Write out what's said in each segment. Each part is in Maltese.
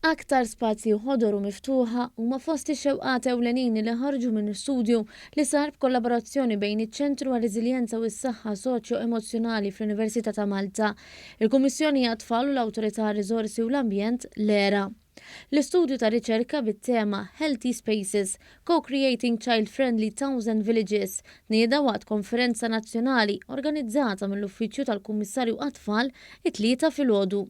Aktar spazji ħodor u miftuħa huma fost ix-xewqat ewlenin li ħarġu minn studju li sar b'kollaborazzjoni bejn iċ-Ċentru għar-Reżiljenza u s-Saħħa Soċjo-Emozzjonali fl-Università ta' Malta, il-Kummissjoni għat-Tfal u l-Awtorità għar-Riżorsi u l-Ambjent, l-ERA. L-istudju ta' riċerka bit-tema Healthy Spaces, Co-Creating Child-Friendly Towns and Villages tnieda waqt konferenza nazzjonali organizzata mill-Uffiċċju tal-Kummissarju għat-Tfal it-Tlieta filgħodu.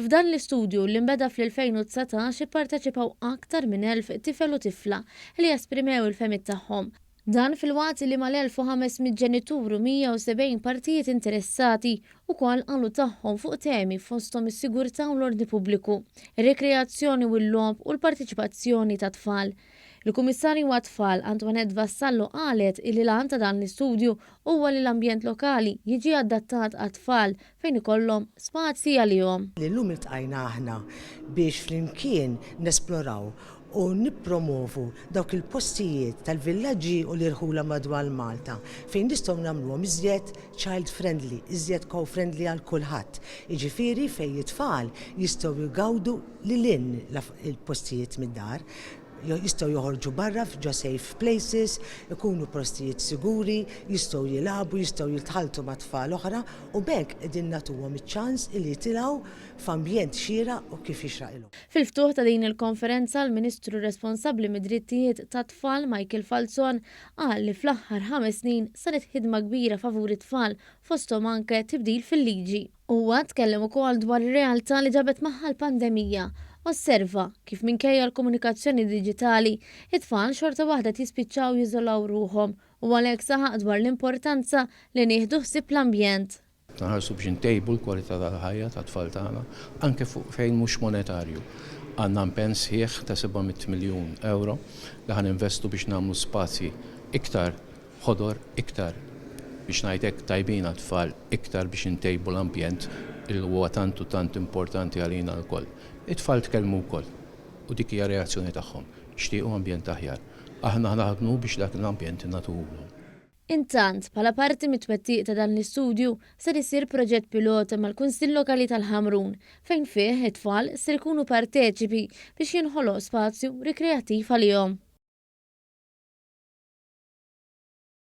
F'dan l-istudju, li nbeda fl-2019, ipparteċipaw aktar minn 1,000 tifel u tifla li esprimew il-fehmiet tagħhom, Dan filwaqt li mal-1,500 ġenitur u 170 partijiet interessati wkoll qalu tagħhom fuq temi fosthom is-sigurtà u l-ordni pubbliku, ir-rikreazzjoni u l-logħob u l-parteċipazzjoni tat-tfal. Il-Kummissarju għat-Tfal, Antoinette Vassallo qalet illi l-għan ta' dan l-istudju huwa li l-ambjent lokali jiġi adattat għat-tfal fejn ikollhom spazji għalihom. Li llum iltqajna aħna biex flimkien nesploraw u nippromovu dawk il-postijiet tal-villaġġi u l-irħula madwar Malta fejn nistgħu nagħmluhom iżjed child friendly, iżjed co friendly għal kulħadd, jiġifieri fejn it-tfal jistgħu jgawdu lil hinn il-postijiet mid-dar. jistgħu joħorġu barra ġo safe places, ikunu postijiet siguri, jistgħu jilagħbu, jistgħu jitħalltu ma' tfal oħra u b'hekk qegħdin nagħtuhom iċ-ċans li jitilgħu f'ambjent xieraq u kif jixraqilhom. Fil-ftuħ ta' din il-konferenza, l-Ministru responsabbli mid-Drittijiet tat-Tfal, Michael Falzon, qal li fl-aħħar ħames snin saret ħidma kbira favur it-tfal, fosthom anke tibdil fil-liġi. Huwa tkellem ukoll dwar ir-realtà li ġabet magħha l-pandemija, osserva kif minkejja l-komunikazzjoni diġitali, it-tfal xorta waħda qed jispiċċaw jiżolaw ruħhom u għalhekk saħaq dwar l-importanza li nieħdu ħsieb l-ambjent. Nħarsu biex intejbu l-kwalità tal-ħajja tat-tfal tagħna anke fuq fejn mhux monetarju. Għandna mpenn sħiħ ta' seba' mitt miljun ewro li ħa ninvestu biex nagħmlu spazji iktar ħodor iktar, biex ngħid hekk, tajbin għat-tfal iktar biex intejbu l-ambjent li huwa tant u tant importanti għalina lkoll. It-tfal tkellmu wkoll u dik hija reazzjoni tagħhom, jixtiequ ambjent aħjar. Aħna naħdmu biex dak l-ambjent ingħatuhulhom. Intant, bħala parti mit-twettiq ta' dan l-istudju, ser isir proġett pilota mal-Kunsill Lokali tal-Ħamrun fejn fih it-tfal ser ikunu parteċipi biex jinħoloq spazju rikreattiv għalihom.